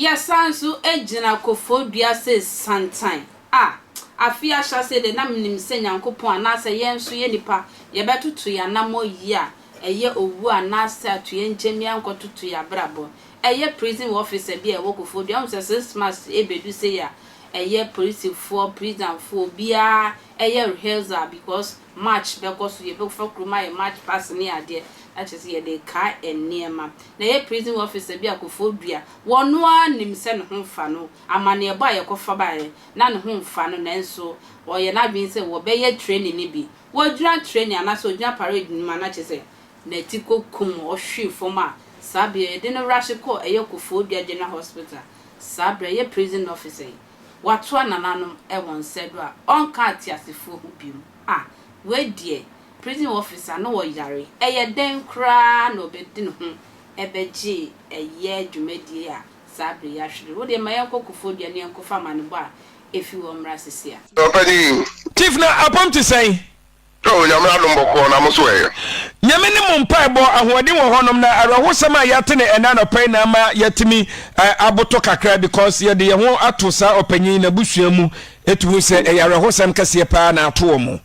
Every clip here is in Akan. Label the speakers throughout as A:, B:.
A: Yɛsan nso gyina kɔfoɔ dua sɛ santan a afe ahyɛaseɛ deɛ na menim sɛ Nyankopɔn anaasɛ yɛn nso yɛ nipa yɛbɛtoto yɛn anammɔ yie a ɛyɛ owuo anaasɛ atoyɛnkyɛm yɛankɔtoto yɛn abrabɔ. Ɛyɛ prison officer bi a ɛwɔ Kofodua wohu sɛ since March ɛbɛdu sei a ɛyɛ polisifoɔ, prisonfoɔ obiara ɛyɛ rehearsal because March bɛkɔ so yɛbɛfa kurom ayɛ March past ne adeɛ na kyerɛ sɛ yɛde rekae nneɛma na ɛyɛ prison officer bi a Kofodua ɔno ara nim sɛ ne ho mfa no amaneɛbɔ a yɛkɔfa baeɛ na ne ho mfa no nanso ɔyɛ n'adwene sɛ wɔbɛyɛ training no bi wɔgyina training anaasɛ ɔgyina parade no mu a na kyerɛ sɛ N'atiko kum ɔhwee fam a saa bea yi yɛde no rush kɔɔ ɛyɛ Koforidua General Hospital saa berɛ ɛyɛ prison officer yi watoa nananom wɔ nsa do a ɔnka ateasefoɔ ho biom ah wei deɛ prison officer no wɔ yare ɛyɛ dɛn koraa na ɔbɛdi ne ho ɛbɛgye ɛyɛ dwumadie a saa berɛ yi ahwere wo deɛ ma yɛnkɔ Koforidua na yɛnkɔfa amanebɔ a ɛfi hɔ mmra sisi a. Ɔpanin,
B: Chief na apam
C: te sɛn? Oh Nyame
B: adom bɔkɔɔ na mo so ɛyɛ. Nyame ne mo
C: mpaebɔ ahoɔden wɔ hɔ nom na awerɛhosɛm a yɛate no ɛnɛ anɔpa yi na ama yɛatumi aboto kakra because yɛde yɛn ho ato saa ɔpanyin yi n'abusua mu ɛtu hu sɛ ɛyɛ awerɛhosɛm kɛseɛ paa na ato wɔn.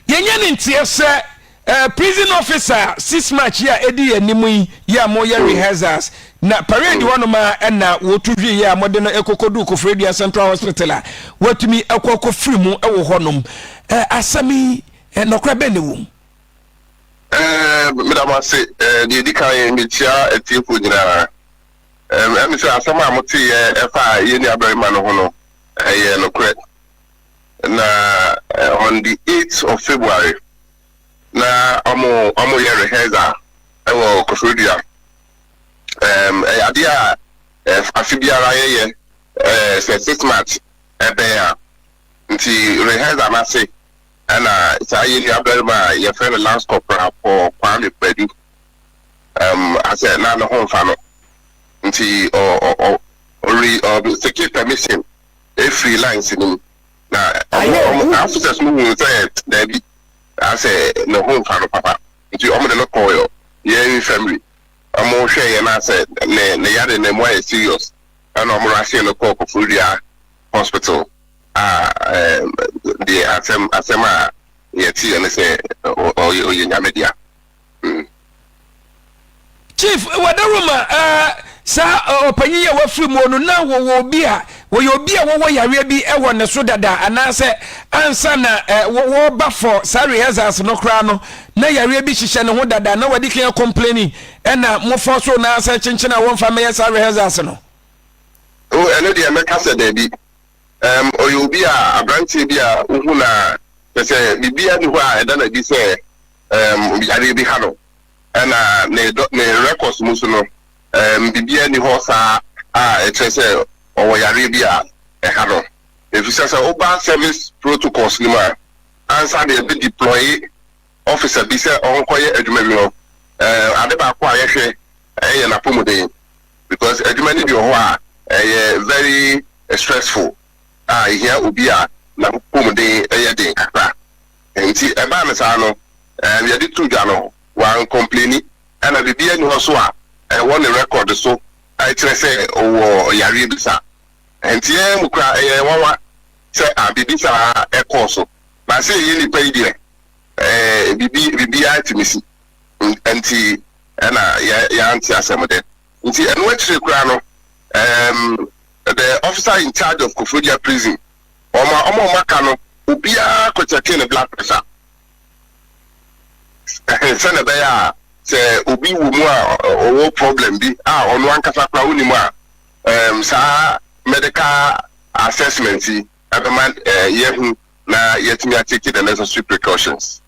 C: Yɛnyɛ ne nteɛ sɛ Eh prison officer a six march yi a edi yɛn anim yi yɛ a moyɛ rehearsals na parade hɔ nom ara na wɔtu hwee yɛ a mode no ɛkɔkɔduu Koforidua Central Hospital a watumi akɔ akɔfiri mu wɔ hɔ nom. Eh asɛm yi eh nɔkora bɛn na ɛwɔ mu? Eh
B: meda mo ase. Eh deɛ ɛdi kan mekyia atiefoɔ nyinaa. Eh ɛne sɛ asɛm a moteeɛ ɛfa yɛn nuabarima no ho no ɛyɛ nokorɛ. na on the eight of February na ɔmo ɔmo yɛ rehearsal ɛwɔ Koforidua ɛɛm ɛyɛ adeɛ a ɛf afe biara yɛyɛ ɛɛ sɛ six march ɛbɛn a nti rehearsal n'ase ɛna saa yɛ nua barima a yɛfrɛ no Lance Corporal Paul Kwame Badu ɛɛm asɛ na ne ho nfa no nti ɔ ɔ ɔ ɔre ɔ seeking permission. Efiri lines no mu na ɔmo ɔmo saa officers no huu sɛ daabi asɛ ne ho nfa no papa nti ɔmo de no kɔɔ yɛ yɛn infirmary ɔmo hwɛɛ yɛ no asɛ ne ne yare no emu ayɛ serious ɛna ɔmo rushee no kɔɔ Koforidua hospital a ɛɛm deɛ asɛm asɛm a yɛteeɛ ne sɛ ɔyɛ ɔyɛ Nyame dea.
C: chief wadaroma ɛɛ saa ɔpanyin a wafiri mu no na wɔwɔ obi a wɔyɛ obi a wɔwɔ yareɛ bi wɔ ne so dada anaasɛ ansa na wɔba fɔ saa rehearsals no koraa no na yareɛ bi hyehyɛ ne ho dada na wɔde kan complaining ɛna mofɔ so na asɛ kyenkyen a wɔmfa mɛyɛ saa rehearsals no. o oh,
B: ɛno deɛ mɛka sɛ daabi um, ɔyɛ obi a aberanteɛ bi a wohu na pɛ sɛ biribiara ni hɔ a ɛda no adi sɛ um yareɛ bi ha no, ɛna ne ne records mu so no um biribiara nni hɔ saa a ɛkyerɛ sɛ ɔwɔ yareɛ bi a ɛha no. Efisɛ sɛ woba service protocols no mu a, ansa na yɛbɛ deploy officer bi sɛ ɔnkɔyɛ adwuma bi no, um ade baako a yɛhwɛ ɛyɛ n'apɔmuden because adwuma no bi wɔ hɔ a ɛyɛ very stressful a ehia obi a n'apɔmuden yɛ den kakra. Enti ɛbaa no saa no, ɛɛ, yɛde too dwa no, wankɔmpleni, ɛna biribiara nni hɔ so a ɛwɔ ne rɛkɔd so a ɛkyerɛ sɛ ɔwɔ yareɛ bi saa. Enti yɛn mu koraa ɛyɛ yɛn nwanwa sɛ a biribi saa kɔɔ so. Na sɛ yɛyɛ nnipa yi deɛ, ɛɛ, biribi, biribiara tumi si. Enti ɛna yɛ, yɛante asɛm dɛ. Nti ɛno akyire koraa no, ɛɛm, the officer in charge of Koforidua prison Wɔmaa wɔn a wɔaka no obiara kɔkyɛkee ne blood pressure sɛnea ɛbɛyɛ a sɛ obi wɔ mu a ɔwɔ problem bi a ɔno ankasa koraa wonim a um, saa medical assessment yi ɛbɛma uh, yɛhu na yɛatumi atake the necessary precautions.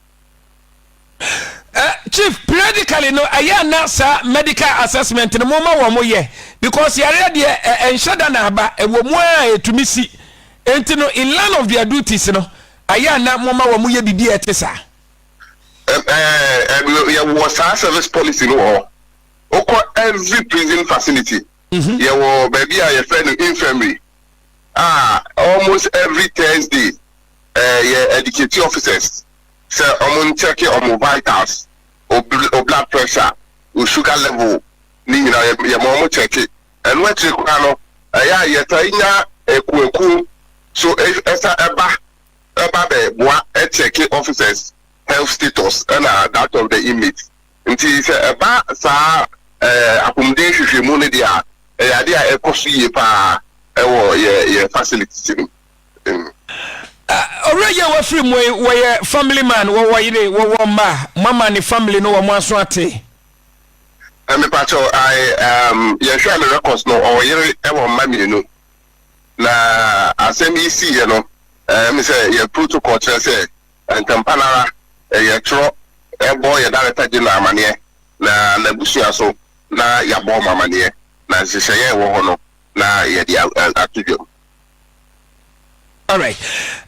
C: chief periodically no ɛyɛ na saa medical assessment no mo ma wɔn yɛ because yareɛ deɛ ɛnhyɛ da na aba ɛwɔ mu a ɛtumi si nti no in line of their duties no ɛyɛ na mo ma wɔn yɛ biribi a ɛte saa.
B: yɛwɔ saa service policy no wɔ wokɔ every prison facility mhm. yɛwɔ baabi a yɛfrɛ no infirmary a almost every thursday eh yɛ educate officers sɛ ɔmo nkyɛke ɔmo vitals, o blood pressure, o sugar level ne nyina yɛ yɛma ɔmo kyɛke. Ɛno akyire koraa no ɛyɛ a yɛtae nya akuakuo so ɛsa ɛba ɛba bɛ boa ɛkyɛke officers health status ɛna that of the inmates. Nti sɛ ɛba saa eh apomuden nhwehwɛmu no deɛ a ɛyɛ adeɛ a ɛkɔ so yie paa ɛwɔ yɛ yɛ facilities no mu. emu.
C: Owura yi a wafiri mu yi wɔyɛ family man wɔwɔ yere wɔwɔ mma mama ne family no wɔn aso ate.
B: Mepakyɛw I um, yɛhwɛ a ne records no ɔwɔ yere ɛwɔ mma mmienu na asɛm yi si yɛ no ɛmi sɛ yɛ protocol kyerɛ sɛ ntɛmpa nara yɛ twerɛ ɛbɔ yɛ director general amaneɛ na n'abusua so na yabɔ wɔn amaneɛ na nhyehyɛeɛ ɛwɔ hɔ no na yɛde ato dwam.
C: All right.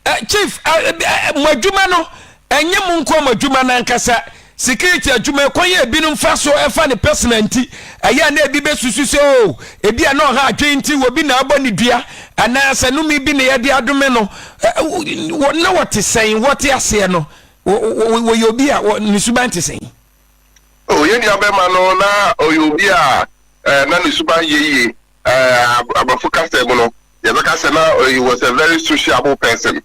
C: Uh, chief, uh, eh, eh, mo adwuma no, ɛnyɛ mo nko mo adwuma no ankasa. Security adwuma ɛkwan yɛ ebinom fa so ɛfa ne personal nti. Ɛyɛ na ebi bɛsusu sɛ o, oh, ebi a na ɔha adwene nti wɔ bi na abɔ ne dua anaasɛ nome bi na yɛde adome no. Na wɔte sɛn, wɔte aseɛ no, wɔyɛ obi a ne suban te sɛn? O, oh, yɛn
B: nua bɛma no na ɔyɛ obi a eh, na ne suban yɛ yie. Eh, aborɔfo kasa mu no, yɛbɛka sɛ na he was a very sociable person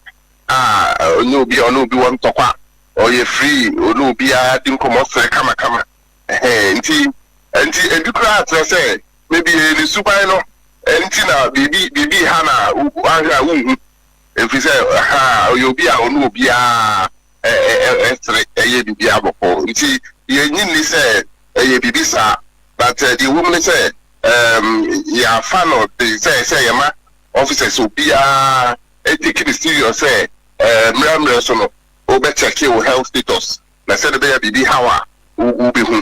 B: a ɔnyɛ obi a ɔne obi wɔ ntɔkwa, ɔyɛ free, ɔne obiara di nkɔmmɔ sere kamakama. Ɛhɛn, nti, nti ebi koraa kyerɛ sɛ maybe ɛyɛ ne suban no nti na biribi biribi ha na ahwɛ a wonhu, ɛfiri sɛ ha ɔyɛ obi a ɔne obiara ɛsere ɛyɛ biribiara bɔkɔɔ, nti yɛnyi nni sɛ ɛyɛ biribi saa, but deɛ ɛwɔ mu ne sɛ um, yɛafa no te sɛ sɛ yɛma officers obiara take no serious sɛ uh, mmerɛ mmerɛ so no wobɛkyɛke wo health status na sɛde bɛyɛ biribi haw a wobɛhu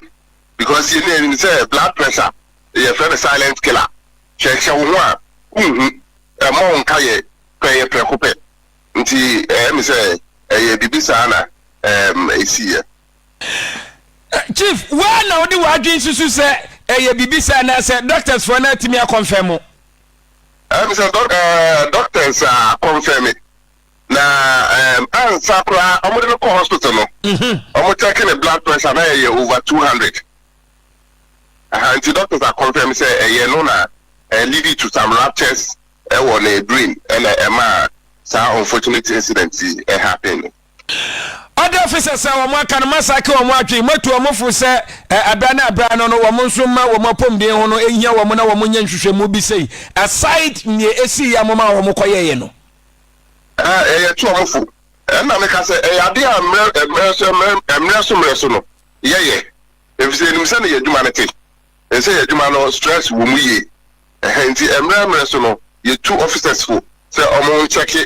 B: because yɛne anim sɛ blood pressure yɛfrɛ no silent killer hwɛhwɛ wo ho a wonhu ɛma wo nka yɛ pɛ yɛ prɛko pɛ nti ɛmi sɛ ɛyɛ biribi saa na ɛsiiɛ
C: Chief, woa na wode w'adwene susu sɛ ɛyɛ biribi saa anaasɛ doctors foɔ no atumi akɔnfɛn mo? Ɛm sɛ dɔk ɛɛ
B: doctors a kɔnfɛn me na ɛm ansa koraa wɔn de no kɔ hospital no wɔn check ne blood pressure na ɛyɛ over two hundred aha nti doctors a kɔnfɛn me sɛ ɛyɛ no na ɛɛ lead to some ruptures ɛwɔ ne brain ɛna ɛma saa unfortunate incident yi ɛhappen no.
C: Ɔde ofi sɛsɛɛ wɔn aka no, moasake wɔn adwene, moatu wɔn fo sɛ ɛberɛ ne ɛberɛ ano no, wɔn nso mma wɔn apɔmuden ho no nhia wɔn na wɔnyɛ nhwehwɛmu bi sei, aside nea ɛsiiɛ a momaa wɔn kɔyɛeɛ no. Ɛɛ,
B: yɛatu wɔn fo. Ɛnna meka sɛ, Ɛyɛ adeɛ a mmerɛ mmerɛ so mmerɛ mmerɛ so mmerɛ so no, yɛyɛ, ɛfiri sɛ yɛnim sɛdeɛ yɛn adwuma no te, ɛne sɛ yɛn adwuma no stress wɔ mu yie, ɛhɛ nti mmerɛ mmerɛ so no, yɛtu officers fo sɛ wɔnkyɛke